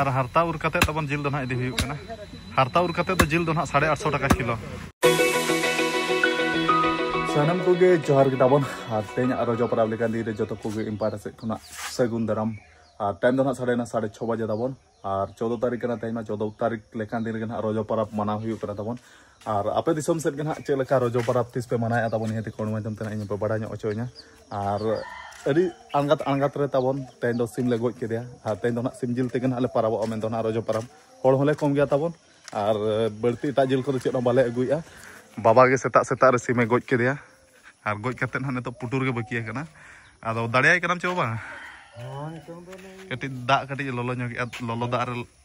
ᱟᱨ ᱦᱟᱨᱛᱟ ᱩᱨ ᱠᱟᱛᱮ ᱛᱟᱵᱚᱱ ᱡᱤᱞ ᱫᱚ ᱱᱟᱦᱟᱜ ᱤᱫᱤ ᱦᱩᱭᱩᱜ ᱠᱟᱱᱟ ᱦᱟᱨᱛᱟ ᱩᱨ ᱠᱟᱛᱮ ᱫᱚ ᱡᱤᱞ ᱫᱚ ᱱᱟᱦᱟᱜ ᱥᱟᱲᱮ ᱟᱴᱥᱚ ᱴᱟᱠᱟ ᱠᱤᱞᱳ ᱥᱟᱱᱟᱢ ᱠᱚᱜᱮ ᱡᱚᱦᱟᱨ ᱜᱮ ᱛᱟᱵᱚᱱ ᱟᱨ ᱛᱮᱦᱮᱧ ᱟᱨᱚ ᱡᱚᱯᱲᱟᱣ ᱞᱮᱠᱟᱱ ᱫᱤᱱ ᱨᱮ ᱡᱚᱛᱚ ᱠᱚᱜᱮ ᱤᱢᱯᱟᱨᱴᱟ ᱥᱮᱫ ᱠᱷᱚᱱᱟᱜ ᱥᱟᱹᱜᱩᱱ ᱫᱟᱨᱟᱢ ᱟᱨ ᱴᱟᱭᱤᱢ ᱫᱚ ᱱᱟᱦᱟᱜ ᱥᱟᱲᱮᱱᱟ ᱥᱟᱲᱮ ᱪᱷᱚ ᱵᱟᱡᱮ ᱛᱟᱵᱚᱱ ᱟᱨ ᱪᱳᱫᱫᱳ ᱛᱟᱹᱨᱤᱠᱷ ᱠᱟᱱᱟ ᱛᱮᱦᱮᱧ ᱢᱟ ᱪᱳᱫᱫᱳ ᱛᱟᱹᱨᱤᱠᱷ ᱞᱮᱠᱟᱱ ᱫᱤᱱ ᱨᱮᱜᱮ ᱱᱟᱦᱟᱜ ᱨᱚᱡᱚ ᱯᱚᱨᱚᱵᱽ ᱢᱟᱱᱟᱣ ᱦᱩᱭᱩᱜ ᱠᱟᱱᱟ ᱛᱟᱵᱚᱱ ᱟᱨ ᱟᱯᱮ ᱫᱤᱥᱚᱢ ᱥᱮᱫ ᱜᱮ ᱱᱟᱜ ᱪᱮᱫ ᱞᱮᱠᱟ ᱨᱚᱡᱚ ᱯᱟᱨᱟᱵᱽ ᱛᱤᱥ ᱯᱮ ᱢᱟᱱᱟᱣᱮᱫᱼᱟ ᱛᱟᱵᱚᱱ ᱱᱤᱦᱟᱹᱛ ᱠᱚᱬ ᱢᱟᱫᱽᱫᱷᱚᱢ ᱛᱮ ᱤᱧ ᱯᱮ ᱵᱟᱲᱟᱭ ᱧᱚᱜ ᱦᱚᱪᱚᱧᱟ ᱟᱨ ᱟᱹᱰᱤ ᱟᱬᱜᱟᱛ ᱟᱬᱜᱟᱛ ᱨᱮ ᱛᱟᱵᱚᱱ ᱛᱮᱦᱮᱧ ᱫᱚ ᱥᱤᱢ ᱞᱮ ᱜᱚᱡ ᱠᱮᱫᱮᱭᱟ ᱟᱨ ᱛᱮᱦᱮᱧ ᱫᱚ ᱱᱟᱜ ᱥᱤᱢ ᱡᱤᱞ ᱛᱮᱜᱮ ᱱᱟᱜ ᱞᱮ ᱯᱟᱨᱟᱵᱚᱜᱼᱟ ᱢᱮᱱᱫᱚ ᱱᱟᱜ ᱨᱚᱡᱚ ᱯᱟᱨᱟᱵᱽ ᱦᱚᱲ ᱦᱚᱸᱞᱮ ᱠᱚᱢ ᱜᱮᱭᱟ ᱛᱟᱵᱚᱱ ᱟᱨ ᱵᱟᱹᱲᱛᱤ ᱮᱴᱟᱜ ᱡᱤᱞ ᱠᱚᱫᱚ ᱪᱮᱫ ᱦᱚᱸ ᱵᱟᱞᱮ ᱟᱹᱜᱩᱭᱮᱫᱼᱟ ᱵᱟᱵᱟ ᱜᱮ ᱥᱮᱛᱟᱜ ᱥᱮᱛᱟᱜ ᱨᱮ ᱥᱤᱢᱮ ᱜᱚᱡ ᱠᱮᱫᱮᱭᱟ ᱟᱨ ᱜᱚᱡ ᱠᱟᱛᱮ ᱱᱟᱜ ᱱᱤᱛᱚᱜ ᱯᱩᱴᱩᱨ ᱜᱮ ᱵᱟᱹᱠᱤ ᱟᱠᱟᱱᱟ ᱟᱫᱚ ᱫᱟᱲᱮᱭᱟᱭ ᱠᱟᱱᱟᱢ ᱪᱮ ᱵᱟᱝ ᱠᱟᱹᱴᱤᱡ ᱫᱟᱜ ᱠᱟᱹᱴᱤᱡ ᱞᱚᱞᱚ ᱧᱚᱜᱮᱜᱼᱟ ᱞᱚᱞᱚ ᱫᱟᱜ ᱨᱮ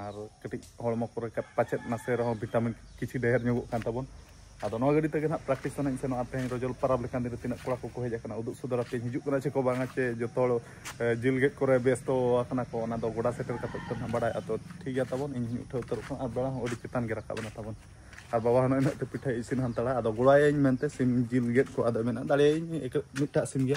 ᱟᱨ ᱠᱟᱹᱴᱤᱡ ᱦᱚᱲᱢᱚ ᱠᱚᱨᱮ ᱯᱟᱪᱮᱫ ᱱᱟᱥᱮ ᱨᱮᱦᱚᱸ ᱵᱷᱤᱴᱟᱢᱤᱱ ᱠᱤᱪᱷᱩ ᱰᱷᱮᱨ ᱧᱚᱜᱚᱜ ᱠᱟᱱ ᱛᱟᱵᱚᱱ ᱟᱫᱚ ᱱᱚᱣᱟ ᱜᱟᱹᱰᱤ ᱛᱮᱜᱮ ᱱᱟᱦᱟᱜ ᱯᱨᱮᱠᱴᱤᱥ ᱥᱟᱱᱟᱧ ᱥᱮᱱᱚᱜᱼᱟ ᱛᱮᱦᱮᱧ ᱨᱚᱡᱚᱞ ᱯᱟᱨᱟᱵᱽ ᱞᱮᱠᱟᱱ ᱫᱤᱱ ᱨᱮ ᱛᱤᱱᱟᱹᱜ ᱠᱚᱲᱟ ᱠᱚᱠᱚ ᱦᱮᱡ ᱟᱠᱟᱱᱟ ᱩᱫᱩᱜ ᱥᱚᱫᱚᱨ ᱟᱛᱮᱧ ᱦᱤᱡᱩᱜ ᱠᱟᱱᱟ ᱪᱮ ᱠᱚ ᱵᱟᱝᱟ ᱪᱮ ᱡᱚᱛᱚ ᱦᱚᱲ ᱡᱤᱞ ᱜᱮᱫ ᱠᱚᱨᱮ ᱵᱮᱥᱛᱚ ᱟᱠᱟᱱᱟ ᱠᱚ ᱚᱱᱟ ᱫᱚ ᱜᱚᱰᱟ ᱥᱮᱴᱮᱨ ᱠᱟᱛᱮ ᱛᱮ ᱱᱟᱦᱟᱜ ᱵᱟᱲᱟᱭ ᱟᱫᱚ ᱴᱷᱤᱠ ᱜᱮᱭᱟ ᱛᱟᱵᱚᱱ ᱤᱧ ᱦᱚᱧ ᱩᱴᱷᱟᱹᱣ ᱩᱛᱟᱹᱨᱚᱜ ᱠᱟᱱᱟ ᱟᱨ ᱵᱮᱲᱟ ᱦᱚᱸ ᱟᱹᱰᱤ ᱪᱮᱛᱟᱱ ᱜᱮ ᱨᱟᱠᱟᱵ ᱮᱱᱟ ᱛᱟᱵᱚᱱ ᱟᱨ ᱵᱟᱵᱟ ᱦᱚᱸ ᱱᱚᱜᱼᱚᱭ ᱯᱤᱴᱷᱟᱹ ᱤᱥᱤᱱ ᱦᱟᱱᱛᱟᱲᱟ ᱟᱫᱚ ᱜᱚᱲᱟᱭᱟᱹᱧ ᱢᱮᱱᱛᱮ ᱥᱤᱢ ᱡᱤᱞ ᱜᱮᱫ ᱠᱚ ᱟᱫᱚ ᱢᱮᱱᱟ ᱫᱟᱲᱮᱭᱟᱹᱧ ᱢᱤᱫᱴᱟᱜ ᱥᱤᱢ ᱜᱮ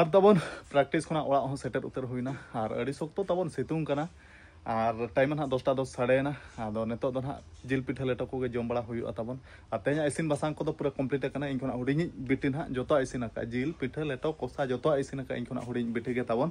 ᱟᱨ ᱛᱟᱵᱚᱱ ᱯᱨᱮᱠᱴᱤᱥ ᱠᱷᱚᱱᱟᱜ ᱚᱲᱟᱜ ᱦᱚᱸ ᱥᱮᱴᱮᱨ ᱩᱛᱟᱹᱨ ᱦᱩᱭᱱᱟ ᱟᱨ ᱟᱹᱰᱤ ᱥᱚᱠᱛᱚ ᱛᱟᱵᱚᱱ ᱥᱤᱛᱩᱝ ᱠᱟᱱᱟ ᱟᱨ ᱴᱟᱭᱤᱢ ᱱᱟᱦᱟᱜ ᱫᱚᱥᱴᱟ ᱫᱚᱥ ᱥᱟᱰᱮᱭᱮᱱᱟ ᱟᱫᱚ ᱱᱤᱛᱚᱜ ᱫᱚ ᱱᱟᱦᱟᱜ ᱡᱤᱞ ᱯᱤᱴᱷᱟᱹ ᱞᱮᱴᱚ ᱠᱚᱜᱮ ᱡᱚᱢ ᱵᱟᱲᱟ ᱦᱩᱭᱩᱜᱼᱟ ᱛᱟᱵᱚᱱ ᱟᱨ ᱛᱮᱦᱮᱧᱟᱜ ᱤᱥᱤᱱ ᱵᱟᱥᱟᱝ ᱠᱚᱫᱚ ᱯᱩᱨᱟᱹ ᱠᱚᱢᱯᱞᱤᱴ ᱟᱠᱟᱱᱟ ᱤᱧ ᱠᱷᱚᱱᱟᱜ ᱦᱩᱰᱤᱧᱤᱡ ᱵᱤᱴᱤ ᱱᱟᱦᱟᱜ ᱡᱚᱛᱚᱣᱟᱜ ᱤᱥᱤᱱ ᱟᱠᱟᱫᱼᱟ ᱡᱤᱞ ᱯᱤᱴᱷᱟᱹ ᱞᱮᱴᱚ ᱠᱚᱥᱟ ᱡᱚᱛᱚᱣᱟᱜ ᱤᱥᱤᱱ ᱟᱠᱟᱫᱼᱟ ᱤᱧ ᱠᱷᱚᱱᱟᱜ ᱦᱩᱰᱤᱧ ᱵᱤᱴᱤ ᱜᱮ ᱛᱟᱵᱚᱱ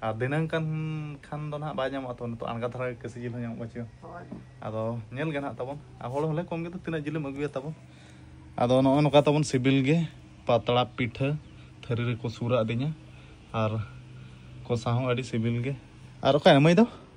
ᱟᱨ ᱫᱤᱱᱟᱹᱝ ᱠᱟᱱ ᱠᱷᱟᱱ ᱫᱚ ᱱᱟᱦᱟᱜ ᱵᱟᱭ ᱧᱟᱢᱚᱜᱼᱟ ᱛᱚ ᱱᱤᱛᱚᱜ ᱟᱬᱜᱟ ᱫᱷᱟᱨᱟ ᱠᱟᱹᱥᱤ ᱡᱤᱞ ᱦᱚᱸ ᱧᱟᱢᱚᱜ ᱵᱟᱹᱪᱩᱜᱼᱟ ᱟᱫᱚ ᱧᱮᱞ ᱜᱮ ᱱᱟᱦᱟᱜ ᱛᱟᱵᱚᱱ ᱟᱨ ᱦᱚᱲ ᱦᱚᱸᱞᱮ ᱠᱚᱢ ᱜᱮᱫᱚ ᱛᱤᱱᱟᱹᱜ ᱡᱤᱞᱮᱢ ᱟᱹᱜᱩᱭᱟ ᱛᱟᱵᱚᱱ ᱟᱫᱚ ᱱᱚᱜᱼᱚᱭ ᱱᱚᱝᱠᱟ ᱛᱟᱵᱚᱱ ᱥᱤᱵᱤᱞ ᱜᱮ ᱯᱟᱛᱲᱟ ᱯᱤᱴᱷᱟᱹ ᱛᱷᱟᱹᱨᱤ ᱨᱮᱠᱚ ᱥᱩᱨ ᱟᱹᱫᱤᱧᱟ ᱟᱨ ᱠᱚᱥᱟ ᱦᱚᱸ ᱟᱹᱰᱤ ᱥᱤᱵᱤᱞ ᱜᱮ ᱟᱨ ᱚᱠᱟᱭᱮᱱᱟ ᱢᱟᱹᱭ ᱫᱚ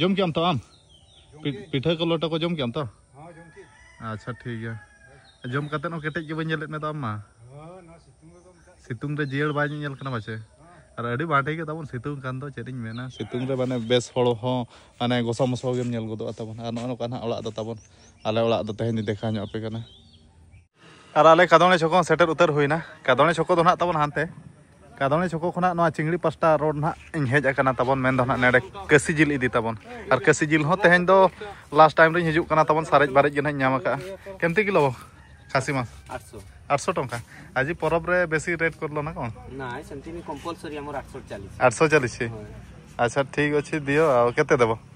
ᱡᱚᱢ ᱠᱮᱜ ᱟᱢ ᱛᱚ ᱟᱢ ᱯᱤᱴᱷᱟᱹ ᱠᱚ ᱞᱚᱴᱟ ᱠᱚ ᱡᱚᱢ ᱠᱮᱜ ᱟᱢ ᱛᱚ ᱟᱪᱪᱷᱟ ᱴᱷᱤᱠ ᱜᱮᱭᱟ ᱡᱚᱢ ᱠᱟᱛᱮ ᱦᱚᱸ ᱠᱮᱴᱮᱡ ᱜᱮ ᱵᱟᱹᱧ ᱧᱮᱞᱮᱫ ᱢᱮ ᱫᱚ ᱟᱢ ᱢᱟ ᱥᱤᱛᱩᱝ ᱨᱮ ᱡᱤᱭᱟᱹᱲ ᱵᱟᱭ ᱧᱮᱧᱮᱞ ᱠᱟᱱᱟ ᱯᱟᱪᱮ ᱟᱨ ᱟᱹᱰᱤ ᱵᱟᱴᱮ ᱜᱮ ᱛᱟᱵᱚᱱ ᱥᱤᱛᱩᱝ ᱠᱟᱱ ᱫᱚ ᱪᱮᱫ ᱤᱧ ᱢᱮᱱᱟ ᱥᱤᱛᱩᱝ ᱨᱮ ᱢᱟᱱᱮ ᱵᱮᱥ ᱦᱚᱲ ᱦᱚᱸ ᱢᱟᱱᱮ ᱜᱚᱥᱟ ᱢᱚᱥᱟ ᱜᱮᱢ ᱧᱮᱞ ᱜᱚᱫᱚᱜᱼᱟ ᱛᱟᱵᱚᱱ ᱟᱨ ᱱᱚᱜᱼᱚ ᱱᱚᱝᱠᱟ ᱱᱟᱜ ᱚᱲᱟᱜ ᱫᱚ ᱛᱟᱵᱚᱱ ᱟᱞᱮ ᱚᱲᱟᱜ ᱫᱚ ᱛᱮᱦᱮᱧ ᱫᱮᱠᱷᱟᱣ ᱧᱚᱜ ᱟᱯᱮ ᱠᱟᱱᱟ ᱟᱨ ᱟᱞᱮ ᱠᱟᱫᱚᱬᱮ ᱪᱷᱚᱠᱚ ᱦᱚᱸ ᱥᱮᱴᱮᱨ ᱩᱛᱟᱹᱨ ᱦᱩᱭᱱᱟ ᱠᱟᱫᱚᱬᱮ ᱪᱷᱚᱠᱚ ᱫᱚ ᱱᱟᱦᱟᱜ ᱛᱟᱵᱚᱱ ᱦᱟᱱᱛᱮ ᱠᱟᱫᱚᱬᱮ ᱪᱷᱚᱠᱚ ᱠᱷᱚᱱᱟᱜ ᱱᱚᱣᱟ ᱪᱤᱝᱲᱤ ᱯᱟᱥᱴᱟ ᱨᱳᱰ ᱱᱟᱦᱟᱜ ᱤᱧ ᱦᱮᱡ ᱟᱠᱟᱱᱟ ᱛᱟᱵᱚᱱ ᱢᱮᱱ ᱫᱚ ᱱᱟᱦᱟᱜ ᱱᱮᱰᱮ ᱠᱟᱹᱥᱤ ᱡᱤᱞ ᱤᱫᱤ ᱛᱟᱵᱚᱱ ᱟᱨ ᱠᱟᱹᱥᱤ ᱡᱤᱞ ᱦᱚᱸ ᱛᱮᱦᱮᱧ ᱫᱚ ᱞᱟᱥᱴ ᱴᱟᱭᱤᱢ ᱨᱤᱧ ᱦᱤᱡᱩᱜ ᱠᱟᱱᱟ ᱛᱟᱵᱚᱱ ᱥᱟᱨᱮᱡ ᱵᱟᱨᱮᱡ ᱜᱮ ᱱᱟᱦᱟᱜ ᱧᱟᱢ ᱟᱠᱟᱜᱼᱟ ᱠᱮᱢᱛᱤ ᱠᱤᱞᱳ ᱠᱷᱟᱥᱤ ᱢᱟᱥ ᱟᱴᱥᱚ ᱟᱴᱥᱚ ᱴᱚᱝᱠᱟ ᱟᱡᱤ ᱯᱚᱨᱚᱵᱽ ᱨᱮ ᱵᱮᱥᱤ ᱨᱮᱴ ᱠᱚᱨᱞᱚ ᱱᱟ ᱠᱚ ᱱᱟ ᱥᱮᱢᱛᱤ ᱠᱚᱢᱯᱚᱞᱥᱚᱨᱤ ᱟᱢᱚᱨ ᱟᱴᱥᱚ ᱪᱟᱞᱤᱥ ᱟᱴᱥᱚ ᱪᱟᱞᱤᱥ ᱟᱪᱪᱷᱟ ᱴᱷᱤᱠ ᱚᱪᱷᱮ ᱫᱤᱭᱚ ᱠᱮᱛᱮ ᱫᱮᱵᱚ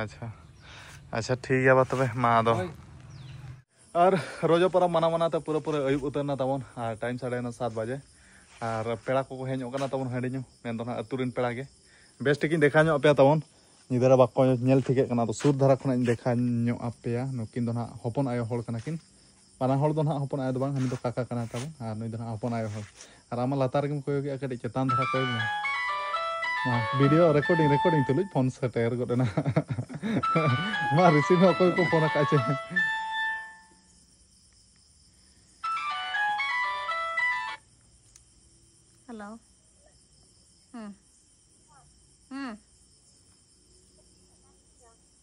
ᱟᱪᱪᱷᱟ ᱟᱪᱪᱷᱟ ᱴᱷᱤᱠ ᱜᱮᱭᱟ ᱵᱟ ᱛᱚᱵᱮ ᱢᱟ ᱟᱫᱚ ᱟᱨ ᱨᱚᱡᱚ ᱯᱚᱨᱚᱵᱽ ᱢᱟᱱᱟᱣ ᱢᱟᱱᱟᱣ ᱛᱮ ᱯᱩᱨᱟᱹ ᱯᱩᱨᱟᱹ ᱟᱹᱭᱩᱵ ᱩᱛᱟᱹᱨ ᱮᱱᱟ ᱛᱟᱵᱚᱱ ᱟᱨ ᱴᱟᱭᱤᱢ ᱥᱟᱲᱮ ᱮᱱᱟ ᱥᱟᱛ ᱵᱟᱡᱮ ᱟᱨ ᱯᱮᱲᱟ ᱠᱚᱠᱚ ᱦᱮᱡ ᱧᱚᱜ ᱠᱟᱱᱟ ᱛᱟᱵᱚᱱ ᱦᱟᱺᱰᱤ ᱧᱩ ᱢᱮᱱ ᱫᱚ ᱱᱟᱜ ᱟᱹᱛᱩ ᱨᱮᱱ ᱯᱮᱲᱟ ᱜᱮ ᱵᱮᱥ ᱴᱷᱤᱠᱤᱧ ᱫᱮᱠᱷᱟᱣ ᱧᱚᱜ ᱟᱯᱮᱭᱟ ᱛᱟᱵᱚᱱ ᱧᱤᱫᱟᱹ ᱨᱮ ᱵᱟᱠᱚ ᱧᱮᱞ ᱴᱷᱤᱠᱟᱹᱜ ᱠᱟᱱᱟ ᱟᱫᱚ ᱥᱩᱨ ᱫᱷᱟᱨᱟ ᱠᱷᱚᱱᱟᱜ ᱤᱧ ᱫᱮᱠᱷᱟᱣ ᱧᱚᱜ ᱟᱯᱮᱭᱟ ᱱᱩᱠᱤᱱ ᱫᱚ ᱱᱟᱜ ᱦᱚᱯᱚᱱ ᱟᱭᱳ ᱦᱚᱲ ᱠᱟᱱᱟ ᱠᱤᱱ ᱵᱟᱱᱟ ᱦᱚᱲ ᱫᱚ ᱱᱟᱦᱟᱜ ᱦᱚᱯᱚᱱ ᱟᱭᱳ ᱫᱚ ᱵᱟᱝ ᱦᱟᱹᱱᱤ ᱫᱚ ᱠᱟᱠᱟ ᱠᱟᱱᱟᱭ ᱛᱟᱵᱚᱱ ᱟᱨ ᱱᱩᱭ ᱫᱚ ᱱᱟᱦᱟᱜ ᱦᱚᱯᱚᱱ ᱟᱭᱳ ᱦᱚᱲ ᱟᱨ ᱟᱢ ᱞᱟᱛᱟᱨ ᱨᱮᱜᱮᱢ ᱠᱚᱭᱚᱜᱮᱜᱼᱟ ᱠᱟᱹᱴᱤᱡ ᱪᱮᱛᱟᱱ ᱫᱷᱟᱨᱟ ᱠᱚᱭᱚᱜ ᱢᱮ ᱢᱟ ᱵᱷᱤᱰᱤᱭᱳ ᱨᱮᱠᱚᱨᱰᱤᱝ ᱨᱮᱠᱚᱨᱰᱤᱝ ᱛᱩᱞᱩᱡ ᱯᱷᱳᱱ ᱥᱮᱴᱮᱨ ᱜᱚᱫ ᱮᱱᱟ ᱢᱟ ᱨᱤᱥᱤᱵᱷ ᱦᱚᱸ ᱚᱠᱚᱭ ᱠᱚ ᱯᱷᱳᱱ ᱟᱠᱟᱫ ᱪᱮ ᱦᱮᱞᱳ ᱦᱮᱸ ᱦᱮᱸ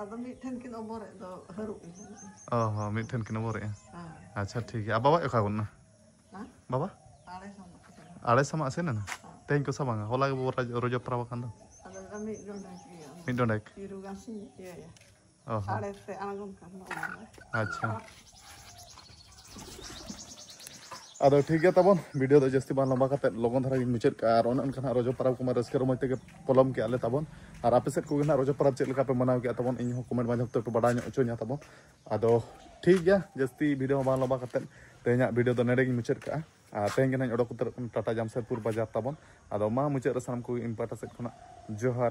ᱟᱫᱚ ᱢᱤᱫᱴᱷᱮᱱ ᱠᱤᱱ ᱚᱵᱚᱨᱮᱫ ᱫᱚ ᱦᱟᱹᱨᱩᱵ ᱚ ᱦᱚᱸ ᱢᱤᱫᱴᱷᱮᱱ ᱠᱤᱱ ᱚᱵᱚᱨᱮᱫᱼᱟ ᱟᱪᱪᱷᱟ ᱴᱷᱤᱠ ᱜᱮᱭᱟ ᱵᱟᱵᱟ ᱚᱠᱟ ᱜᱚᱱᱟ ᱵᱟᱵᱟ ᱟᱲᱮ ᱥᱟᱢᱟᱜ ᱥᱮᱱ ᱮᱱᱟ ᱛᱮᱦᱮᱧ ᱠᱚ ᱥᱟᱢᱟᱝᱟ ᱦᱚᱞᱟ ᱜᱮ ᱵᱟᱵᱟ ᱨᱚᱡᱚ ᱯᱟᱨᱟᱵᱽ ᱟᱠᱟᱱ ᱫᱚ ᱢᱤᱫ ᱰᱚᱸᱰᱮᱠ ᱚ ᱦᱚᱸ ᱟᱪᱪᱷᱟ ᱟᱫᱚ ᱴᱷᱤᱠ ᱜᱮᱭᱟ ᱛᱟᱵᱚᱱ ᱵᱷᱤᱰᱤᱭᱳ ᱫᱚ ᱡᱟᱹᱥᱛᱤ ᱵᱟᱝ ᱞᱚᱢᱵᱟ ᱠᱟᱛᱮ ᱞᱚᱜᱚᱱ ᱫᱷᱟᱨᱟ ᱜᱤᱧ ᱢᱩᱪᱟᱹᱫ ᱠᱟᱜᱼᱟ ᱟᱨ ᱚᱱᱮ ᱚᱱᱠᱟ ᱱᱟᱜ ᱨᱚᱡᱚ ᱯᱟᱨᱟᱵᱽ ᱠᱚᱢᱟ ᱨᱟᱹᱥᱠᱟᱹ ᱨᱚᱢᱚᱡᱽ ᱛᱮᱜᱮ ᱯᱚᱞᱚᱢ ᱠᱮᱜᱼᱟ ᱞᱮ ᱛᱟᱵᱚᱱ ᱟᱨ ᱟᱯᱮ ᱥᱮᱫ ᱠᱚᱜᱮ ᱱᱟᱜ ᱨᱚᱡᱚ ᱯᱟᱨᱟᱵᱽ ᱪᱮᱫ ᱞᱮᱠᱟ ᱯᱮ ᱢᱟᱱᱟᱣ ᱠᱮᱜᱼᱟ ᱛᱟᱵᱚᱱ ᱤᱧ ᱦᱚᱸ ᱠᱚᱢᱮᱱᱴ ᱢᱟᱫᱽᱫᱷᱚᱢ ᱛᱮ ᱯᱮ ᱵᱟᱰᱟᱭ ᱧᱚᱜ ᱦᱚᱪᱚᱧᱟ ᱛᱟᱵᱚᱱ ᱟᱫᱚ ᱴᱷᱤᱠ ᱜᱮᱭᱟ ᱡᱟᱹᱥᱛᱤ ᱵᱷᱤᱰᱤᱭᱳ ᱦᱚᱸ ᱵᱟᱝ ᱞᱚᱢᱵᱟ ᱠᱟᱛᱮ ᱛᱮᱦᱮᱧᱟᱜ ᱵᱷᱤᱰᱤᱭᱳ ᱫᱚ ᱱᱚᱰᱮ ᱜᱤᱧ ᱢᱩᱪᱟᱹᱫ ᱠᱟᱜᱼᱟ ᱟᱨ ᱛᱮᱦᱮᱧ ᱜᱮ ᱱᱟᱜ ᱚᱰᱚᱠ ᱩᱛᱟᱹᱨᱚᱜ ᱠᱟᱱᱟ ᱴᱟᱴᱟ ᱡᱟᱢᱥᱮᱫᱽᱯᱩᱨ ᱵᱟᱡᱟᱨ ᱛᱟᱵᱚᱱ ᱟᱫᱚ ᱢᱟ ᱢᱩᱪᱟᱹᱫ ᱨᱮ ᱥᱟᱱᱟᱢ ᱠᱚᱜᱮ ᱤᱧ ᱯᱟᱦᱴᱟ ᱥᱮᱫ ᱠᱷᱚᱱᱟᱜ ᱡᱚᱦᱟᱨ